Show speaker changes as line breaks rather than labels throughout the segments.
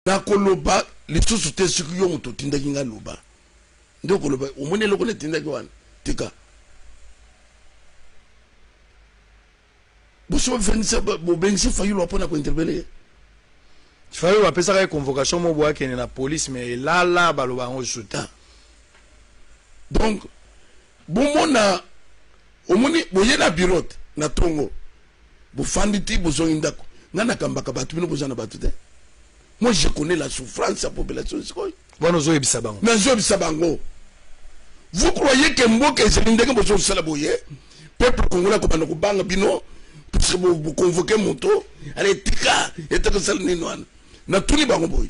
Nakoloba lisusu te soki yo moto otindaki nga loba nde okoloba omoni eloko natindaki wana tika bosi bofendisa bobengisi fayulu apona kointerpele ye
fayulu apesaka ye convocation mobo akende na police mais elala baloba yango lisusu te ah.
donc Bomona omoni boye na bureau te na tongo bofandi ti bozongi ndako ngai nakambaka bato bino boza na bato te moi je connais la souffrance ya population sikoyo wana ozoyebisa bango nazoyebisa bango vous croyez que mboka ezali ndenge bozosala boye peuple congolais akobanda kobanga bino puisque boconvoke moto ala etika etakosala nini wana natuni bango boye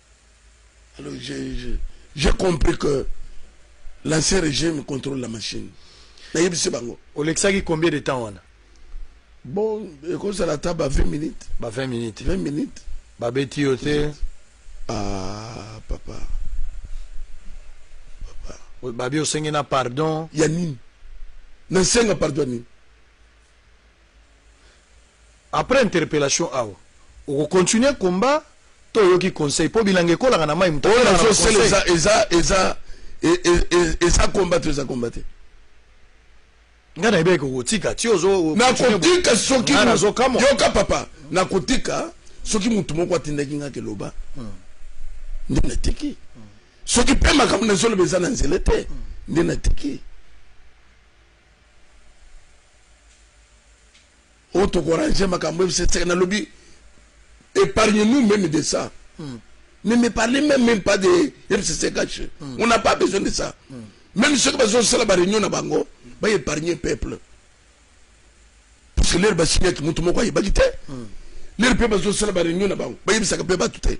Alors j'ai compris que l'ancien régime contrôle la machine. Nayebisi bango.
Olekisaki combien de temps wana? Bon,
ekozala ata ba 20 minutes. Ba 20 minutes. 20
minutes.
Babeti yo te.
Ah,
papa. Papa.
Babi osengi na pardon. Ya nini?
Nasenga pardon nini?
Après interpellation awa oko continuer combat to oyoki conseil po bilanga ekolaka na mayi moto oyo azo sala eza eza eza
eza combat to eza combat te
nga na ebeke okotika ti ozo nakotika
soki yoka papa nakotika soki motu moko atindaki nga keloba hmm. nde natiki hmm. soki mpe makambo nazoloba eza na nzela te hmm. nde natiki oyo tokorange makambo ye biseseke nalobi épargne nous même de ça mm. ne me parlez même, même pas de fcc caché mm. on n'a pas besoin de ça mm. même ceux qui bazosala baréunion na bango baépargne peuple parce que lere basignaki moto moko ayebaki te lere mpe bazosala baréunion na bango bayebisaka mpe bato te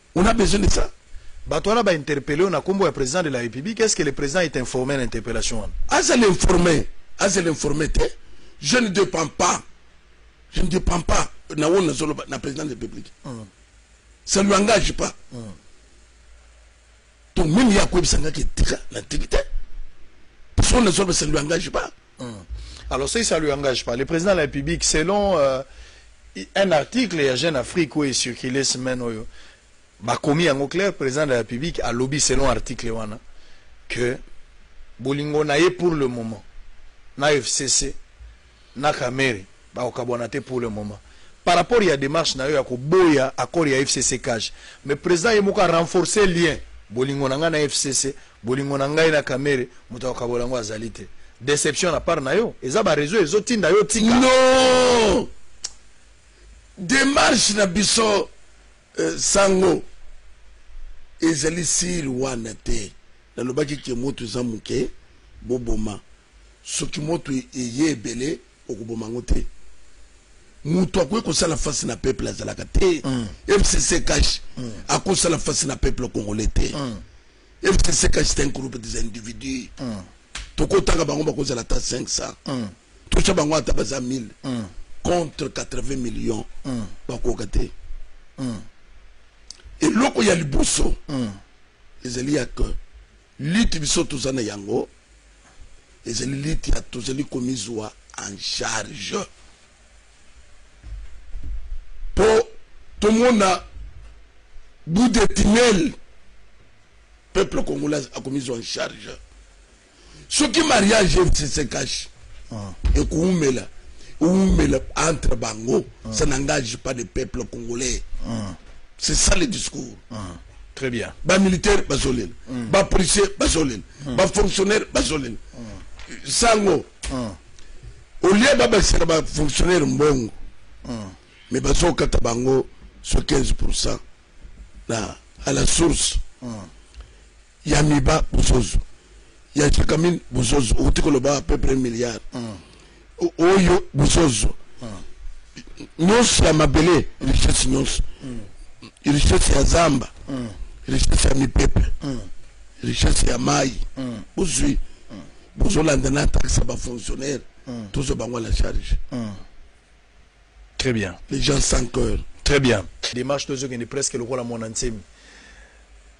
On a besoin de ça. Bato wana ba interpelle
na kombo ya president de la République, est-ce que le president est informé na interpellation wana? Aza l'informé,
aza l'informé te. Je ne dépend pas. Je ne dépend pas na wona na zolo na president de la République. Mm. Ça lui engage pas. Mm. Donc même ya ko bisanga ke tika na tikite. Parce qu'on ne zolo ça lui engage pas. Hum. Alors ça,
ça lui engage pas. Le président de la République, selon euh, un article ya Jeune Afrique oyo ecircule semaine oyo bakomi yango clair président de la République alobi selon article wana que bolingo na ye pour le moment na FCC na Kamere Bakokabwana te pour le moment par rapport ya demarche nayo ya koboya accord ya FCC-Cage mais president ye moko a renforcer lien bolingo na ngai na FCC bolingo na ngai na Kamerhe moto akokabola yango azali te deception na part nayo eza ba reseau ezo tinda yo tika non
demarche na biso euh, sango ezali siri wana te nalobaki ke moto eza moke boboma soki moto eye ebele Okoboma yango te mutu akoki kosala face na peuple azalaka te fcc cash akosala face na peuple congolais te fcc cash c'est un groupe des individus tokotanga bango bakozala ata 500 tosha bango ata baza 1000 contre 80 millions bakoka te eloko ya liboso ezali ya que Lutte biso toza na yango ezali lutte ya tozali komizwa en charge mpo tomona bout de tunnel peuple congolais akomizwa en charge soki mariage se cache ah. ekuumela umela entre bango ah. ça n'engage pas le peuple congolais ah. c'est ça le discours Très bien.
Ba militaires bazolela.
Mm. Ba policiers bazolela. Mm. Ba fonctionnaires bazolela. Mm. Sango. Mm. Au lieu ba basela ba fonctionnaires mbongo. Mm. Mais bazo kata bango sur 15% na à la source. Mm. Ya miba bozozo. Ya chakamine bozozo. Otiko loba à peu près milliard. Mm. oyo bozozwa nyonso ya mabele richesse nyonso richesse ya zamba richesse ya mipepe richesse ya mai bozwi bozolanda na taxe ya bafonctionnaire tozwa bango à la charge
très bien les gens sans cœur
très bien
démarche tozokende presque lokola mwana nsemi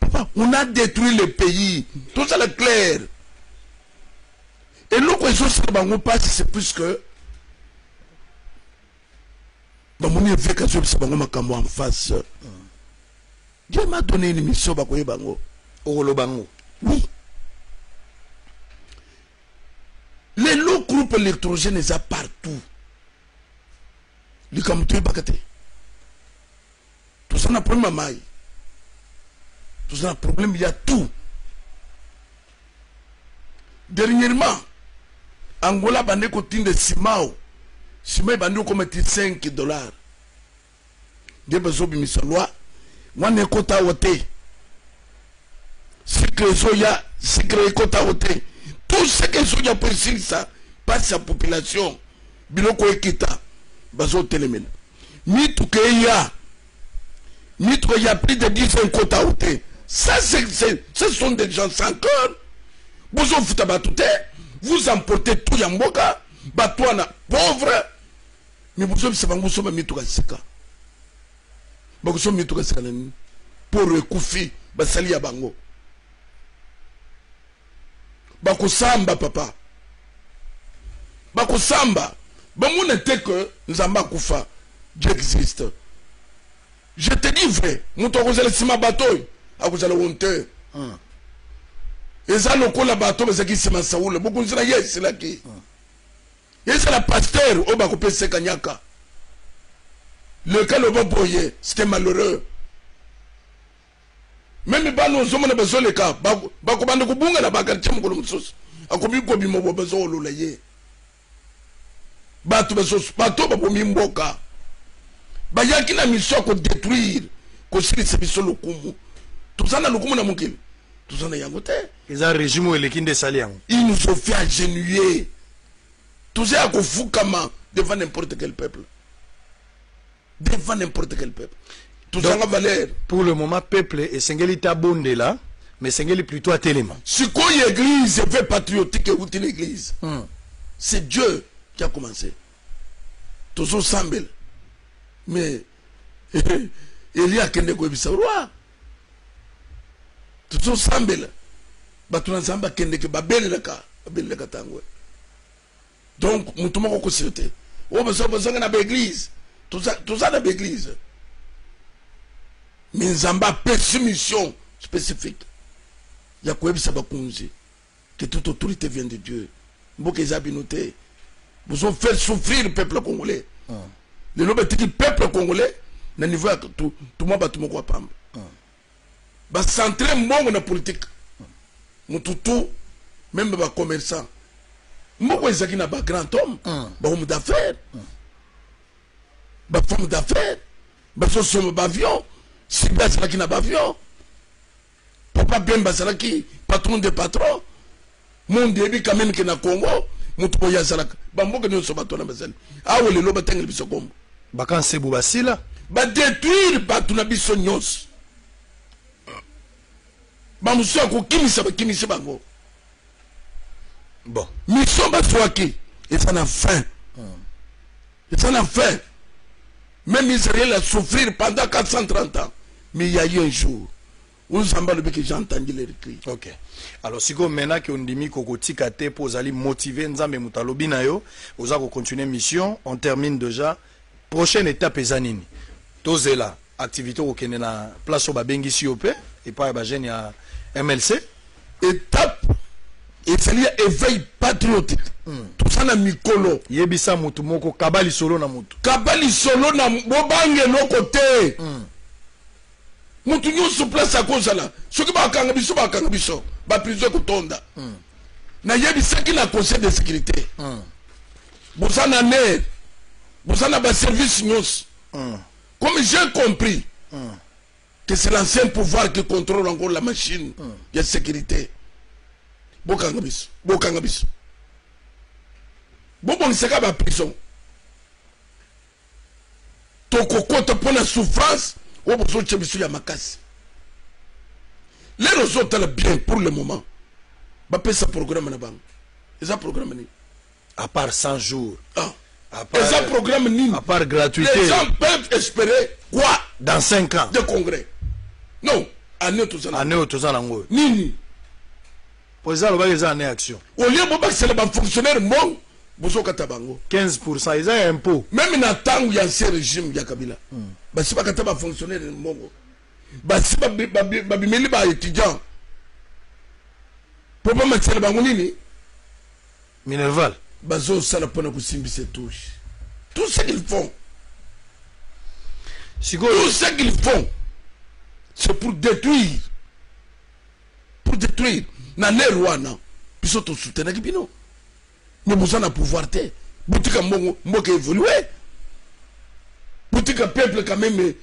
Papa, on a détruit le pays. Tout ça est clair. Et nous, quand ils ont bango passe, c'est plus que. bamoni eveke azobisa bango makambo en face dieu m'a donné une mission bakoyeba yango okoloba yango oui les low groupe électrogène eza partout likambo toyebaka te toza na problème ya mayi toza na problème ya tout dernièrement angola bande kotinda simao sima ebandi okoma ti 5 dollar nde bazobimisa loi wana ekota awa te sikre ezoya sikre ekota awa te tout ce que ezoya mpo esilisa mpasi ya population biloko ekita bazotelemela mituka eya mituka ya plus de 10 ans ekota ou te ça ce sont des gens sans cœur bozofuta bato te vous emportez tout ya mboka bato wana pauvre mais bozobisa bango bosomba mituka sika bakosomba mituka sika na nini poro ekufi basali ya bango bakosamba papa bakosamba bamona te que nzambe akufa j'existe je te dis vrai moto akozala nsima bato oyo akozala honteur hmm. eza lokola bato bazalaki nsima ya saula bokonzi na ye esilaki hmm. ezala pasteur oyo bakopesa kanyaka leka loba boye c'était malheureux Meme bana ozomona bazoleka bakobanda kobunga na bakartie mokolo mosusu akobi kobima bo bazoolola ye bato bazosu bato babomi mboka bayaki na miso ya kodetruire kosilisa biso lokumu toza na lokumu na mokili toza na yango te eza regime oyo
eleki nde esali yango il nous ont fait
agenouiller toza ya kofukama devant n'importe quel peuple devant n'importe quel peuple tozanga valeur pour le moment peuple
esengeli tabondela mais esengeli plutôt atelema sikoyo église
epe patriotique euti na église hmm. c'est dieu qui a commencé tozosambela mais eli akende koyebisa roi tozosambela bato na nzambe akendeke babelelaka babelelaka ntango donc mutu moko kosiri te oyo baza bazonga na baeglise toza na baeglise me nzambe apesi mission spécifique ya koyebisa bakonzi que toute autorité vient de dieu mboka eza bino te bozo faire souffrir peuple congolais ah. lelo batiki peuple congolais na niveau ya tumwa bato moko ya pamba Ba centre mbongo na politique. Mutu tout, meme ba commerçants. Mboko ezaki na ba grand homme, mm. ba homme d'affaires, mm. ba femme d'affaires, ba so somo ba avion, Sibia azalaki na ba avion. Papa Bemba azalaki patron de patron. monde eyebi quand même ke na congo moto boye azalaka bamboka nyonso bato wana bazali awa lelo batangeli biso kombo bakansebu
basila badetruire
bato na biso nyonso bamosusu ya kokimisa bakimisi bango bon
mission bazwaki
eza na fin eza na fin même israel a souffrir pendant 430 ans mais il y a eu un jour Humm Nzambe alobi que j'ai entendu les cris. Ok. Alors
sikoyo maintenant que ondimi kokotika te mpo ozali motive Nzambe moto alobi na yo oza ko continuer mission on termine déjà prochaine étape eza nini tozela activité okokende na place oyo babengisi yo mpe epai ya bajeune ya mlc
étape ezali ya éveil patriotique hmm. toza na mikolo yebisa motu moko
kaba lisolo na motu kaba lisolo na
bobange eloko te mm. mutu nyonso place akozala soki bakanga biso bakanga biso baprizo ekotonda mm. nayebisaki na conseil de sécurité mm. boza na ner boza na baservice nyonso mm. comme j'ai compris mm. que c'est l'ancien pouvoir qui contrôle encore la machine mm. ya sécurité bokanga biso bokanga biso bobongisaka baprison tokokota mpo na souffrance oyo bozotya biso ya makasi lelo ozotala bien pour le moment bapesa programme na bango eza programme nini à part
100 jours ah. eza
programme nini à part gratuité les
gens peuvent
espérer quoi dans 5 ans de
congrès
non année oyo toza nango nini
President alobaki eza annee action. Au lieu bobakisela
ba fonctionnaires mbongo bozokata bango 15% eza ya
impôt. Meme na tango ya
ancien regime ya Kabila mm. basi bakata ba fonctionnaires mbongo basi babimeli ba étudiants mpo bamakisela bango nini
minerval bazosala
mpona kosimbisa etouche tout ce qu'ils font tout ce qu'ils font c'est pour détruire pour detruire na l'heure wana biso to soutenaki bino mais boza na pouvoir te botika mbongo mboka évolue botika peuple quand même eh,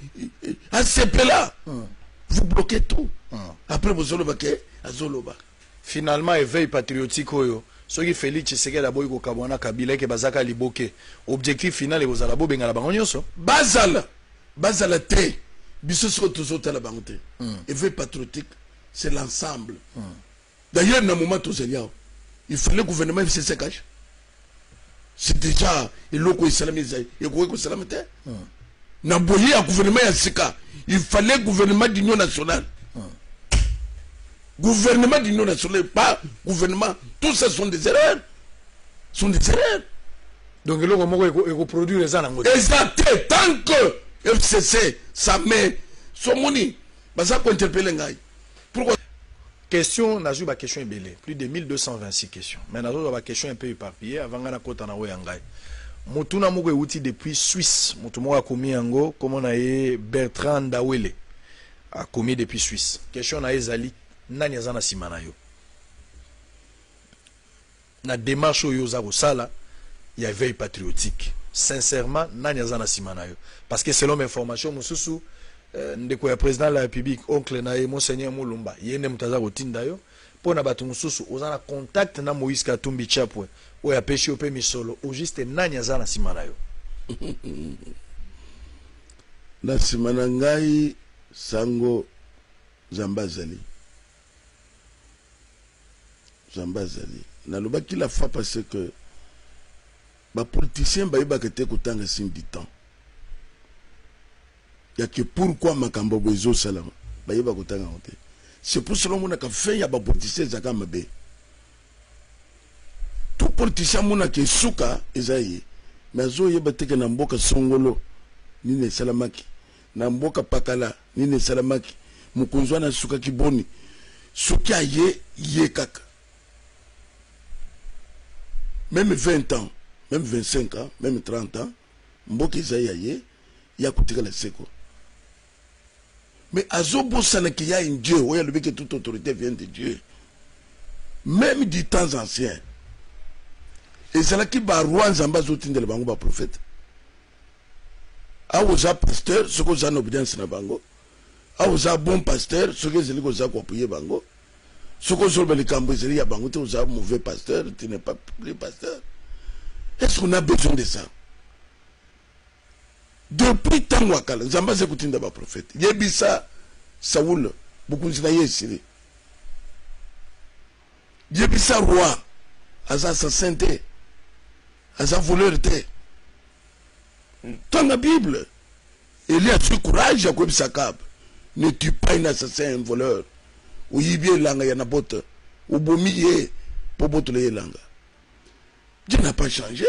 eh, asepela hmm. vous bloquez tout hmm. après bozoloba ke azoloba finalement
éveil patriotique oyo soki félix tshisekedi aboyi kokabwana kabila eke bazaka liboke objectif final ekozala bobengana bango nyonso bazala
bazala te biso siko tozotala bango te mm. eveil patriotique c'est l'ensemble mm. d'ailleurs na moment tozali awa il fallait gouvernement efc se cache c'est déjà eloko esalami ezali ekoki kosalama te mm. na boye ya gouvernement ya sika il fallait gouvernement d'union nationale mm. gouvernement d'union nationale pas gouvernement tout ça sont des erreurs sont des erreurs
donc eloko moko eko, eko produire eza nango eza te tant
que fcc sa mère somoni baza kointerpele ngai pourquoi question
nazwi baquestion ebele plus de 1226 question mais nazozwa baquestion un peu éparpillé avant ngai nakota na oyo ya ngai motuna moko euti depuis suisse moto moko akomi yango nkombo na ye bertrand ndawele akomi depuis suisse question na ye ezali nani aza na nsima na yo Na demarche oyo oza kosala ya eveil patriotique sincerement nani aza na sima na yo parce que selon ba informations mususu ndeko ya president de la republique oncle na ye monseigneur Mulumba ye nde moto aza kotinda yo mpo na bato mosusu oza na contact na Moïse Katumbi Chapwe oyo apesi yo mpe misolo au juste nani aza na sima na yo
na sima na ngai sango Nzambe azali. Nzambe azali. Nalobaki la fois passee que ba politiciens bayebaka te kotanga signe du temps. Ya que pourquoi makambo boye ezosalama bayeba kotanga yango te. C'est pour cela omonaka fin ya ba politiciens ezalaka mabe. Tout politicien amonaka esuka eza ye mais azoyeba te que na mboka songolo nini esalamaki. Na mboka pakala nini esalamaki? Mokonzi wana asukaki boni? Soki aye ye kaka meme 20 ans, meme 25 ans, meme 30 ans, mboka eza ya ye, ye akotikala seko. Mais azobosana qu'il y a un Dieu, oyo alobi que toute autorité vient de Dieu. Meme du temps ancien, ezalaki ba roi Nzambe azotindela bango ba prophète. awa oza pasteur soki oza na obedience na bango awa oza bon pasteur soki ezali koza koapuye bango soki ozoloba likambo ezali ya bango te oza mauvais pasteur tu n'es pas plus pasteur est ce qu'on a besoin de ça depuis ntango ya kala nzambe azali kotinda baprofete yebisa saul bokonzi na ye esili yebisa roi aza assassin te aza voleur te tanga bible eli azwi courage ya koyebisa kabe ne tue pas un assassin un voleur oyibi elanga ya nabote obomi ye mpo botole ye elanga je n'a pas change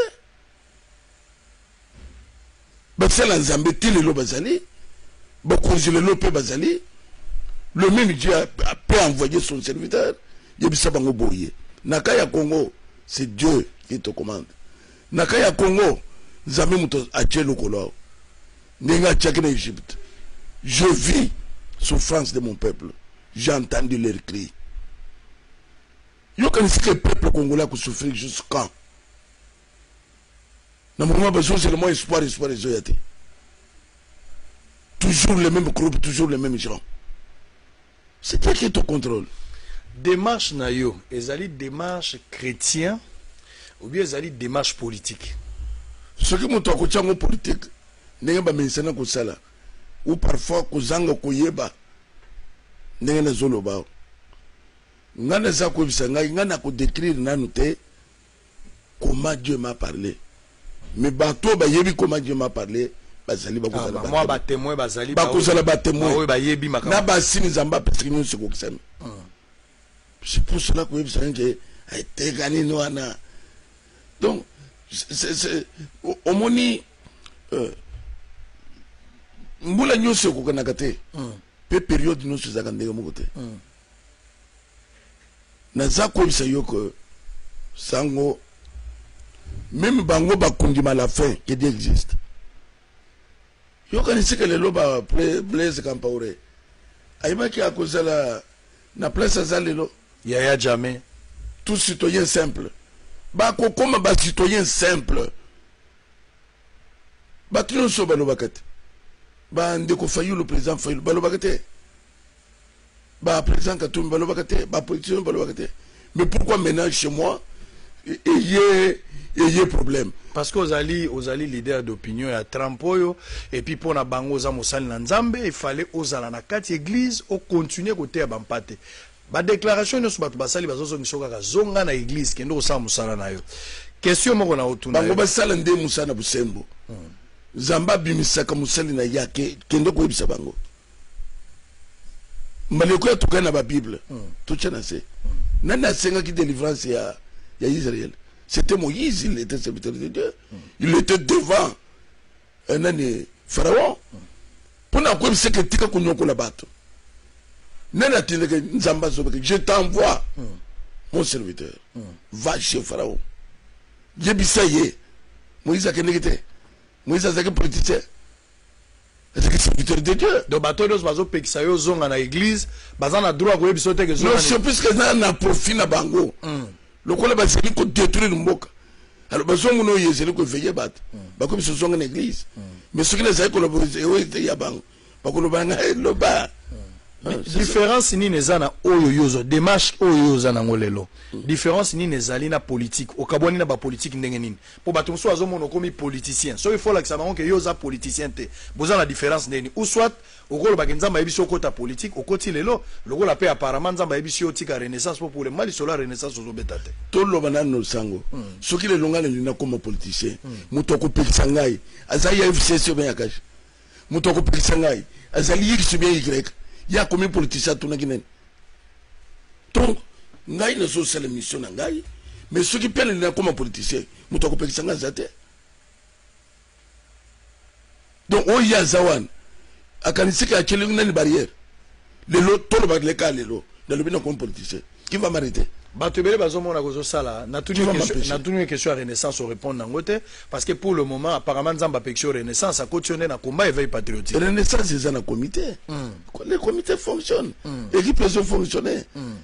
basala nzambe ti lelo bazali bakonzi lelo mpe bazali le meme dieu peut envoyer son serviteur yebisa bango boye na cas ya congo c'est dieu qui te commande na cas ya congo nzambe moto atie lokolo awo ndenge atiaki na egypte je vis souffrance de mon peuple j'ai entendu leur cri yokanisike peuple congolais akosouffrir jusqu'en na moment bazozela mwa espoir espoir ezoya te toujours le même groupe toujours le même gens c'est toi qui est au contrôle démarche
na yo ezali démarche chrétien ou bien ezali démarche politique soki
moto akotya yango politike ndenge bamesana kosala ou parfois kozanga koyeba ndenge nazoloba ngai naza koyebisa ngai ngai nakodécrire nanu te Comment Dieu m'a parle mais bato oyo bayebi comment Dieu m'a parle bazali bakozala ah, ba batemoin bazali
bakozala batemoin
bayebi makambo na
basini nzambe apesaki
nyonso ekokisami hmm. c'est pour cela koyebisa yo ke etekani eh, wana donc omoni euh, mbula nyonso ekokanaka te mpe hmm. periode nyonso ezalaka ndenge moko te hmm. Naza koyebisa yo que sango meme bango bakundima la fin que Dieu existe. Yokanisi que lelo ba Blaise Kampaure ayebaki akozala na place aza lelo yaya jamais
tout citoyen
simple bakokoma ba citoyen simple bato nyonso balobaka te bandeko fayulu président fayulu balobaka te ba président Katumbi balobaka te ba politiciens balobaka te mais pourquoi maintenant chez moi eye eye problème parce que ozali
ozali leader d'opinion ya Trump oyo et puis pona bango oza mosali na Nzambe il fallait ozala na kati église o continuer koteya bampate ba déclaration nyonso bato basali bazozongisa kaka zonga na église kende kosala mosala na yo question moko na otuna bango basala nde mosala
na bosembo hmm. Zamba abimisaka mosali na yake kende koyebisa bango maleko ya tokani na ba bible totya na se nani asengaki délivrance ya ya Israël c'était Moïse il était serviteur de Dieu il était devant eh, nani Pharaon mpo na koyebisa ke tika konyokola bato nani atindeke nzambe azobeke je t'envoie mon serviteur va chez Pharaon yebisa ye Moïse akendeki te Moïse azalaki politicien Ezalaki serviteur de Dieu. Donc bato nionso bazo
pekisa yo ozonga na eglise baza na droit koyebisa yo te ke zonga. Non c'est puisque eza na
profit na bango. Mm. Lokola bazali ko détruire mboka. Alors bazongo no yezeli ko veiller bato. Mm. Bakomi so zonga na eglise. Mm. Mais soki na zali ko lobo ya bango. Bakolo banga eh, loba. Mm. Ah,
différence nini eza na oyo yo ozo démarche oyo yo oza nango lelo mm. différence nini ezali na politique okabwani na bapolitique ndenge nini Po batu mosusu bazo mona okomi politicien soki faut olakisa bango ke yo oza politicien te boza na difference neni ou soit oko loba ke nzambe ayebisi yo okota politique okoti lelo lokola pe apparemment nzambe ayebisi yo otika renaissance po pour le moment lisolo ya renaissance ozo beta te. To loba nanu
sango soki lelo nga nalingi na koma politicien mutu ako pekisa ngai aza ya FCC ou bien ya cash? moto akopekisa ngai azali x bien y ye akomi politicien atunaki nani donc ngai nazosala mission na ngai mais soki pele nakoma politicien moto akopekisa ngai aza te donc oyo ye aza wana akanisiki atyeli nani barrière lelo toloba leka lelo nalobi na comme politicien qui va m'arrêter bato ebele bazomona
kozosala natuni ye question ya renaissance orépondre nango te parce que pour le moment apparemment nzambe apekisi yo renaissance akoti yo nde na combat éveil patriotique renaissance eza na
comité mm. le comité fonctionne mm. équipe ezo fonctionne mm.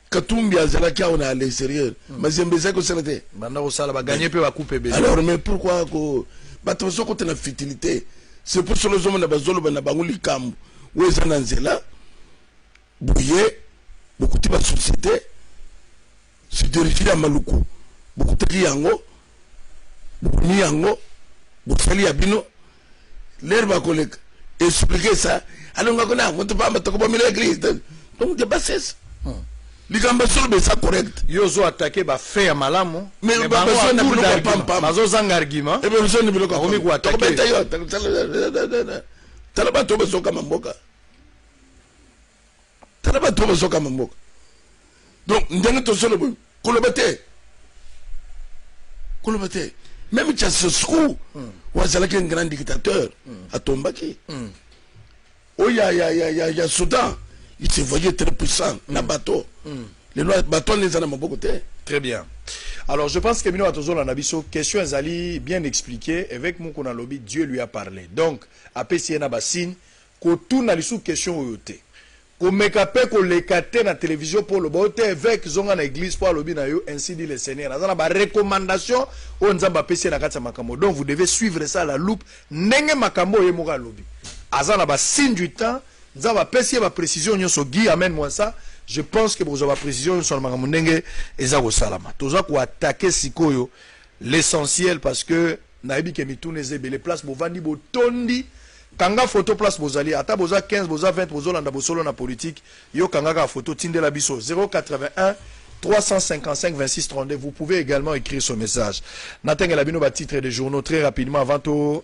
Katumbi azalaki awa na l'exterieur hmm. mazembe ezali kosala te banda kosala baganye
mpe bakupe ebele alors mais pourquoi ko
bato bazokota na futilité c'est pour solo ozomona bazoloba na bango likambo oyo eza na nzela boye bokuti basociété sidergie ya maluku bokutaki yango bokomi yango bosali ya bino Ler bakoleka expliquer ça alors nga kona moto pamba tokobomela église donc de bassesse hmm. likambo solo besa correct yo ozo attaquer ba
fait ya malamu mais bango na
biloko ya pampa bazo zanga argument
et bien besoin de biloko akomi
ko attaquer
tokobeta
yo tala bato bazokama mboka tala bato oyo bazokamba mboka donc ndenge tozolo boye koloba te koloba te meme chasesku hmm. oyo azalaki un grand dictateur hmm. atombaki hmm. oyo ya, ya, ya, ya, ya soudan il se voyait très puissant na bateau lelo bateau wana eza na maboko te très bien
alors je pense que bino bato ozolanda biso question ezali bien expliqué évêque mokuna alobi dieu lui a parlé donc apesi ye na basigne Kotuna lisusu question oyo te. Komeka pe koleka te na television po oloba yo te eveque zonga na eglise po alobi na yo ainsi dit le seigneur aza na ba recommandation oyo nzambe apesi ye na kati ya makambo donc vous devez suivre ça à la loupe ndenge makambo oyo ye moko alobi aza na ba signe du temps nzambe apesi ye ba precision nionso Guy amen moi ça je pense que bokozwa ba precision nionso na makambo ndenge eza kosalama toza ko attaquer sikoyo L'essentiel parce que nayebi ke mituna eza ebele place bovandi botondi kanga photo place bozali ata boza 15 boza 20 bozolanda bosolo na politique yo kanga kaka photo tindela biso 081355262 vous pouvez egalement ecrire ce message natangela bino ba titre de journaux très rapidement avant to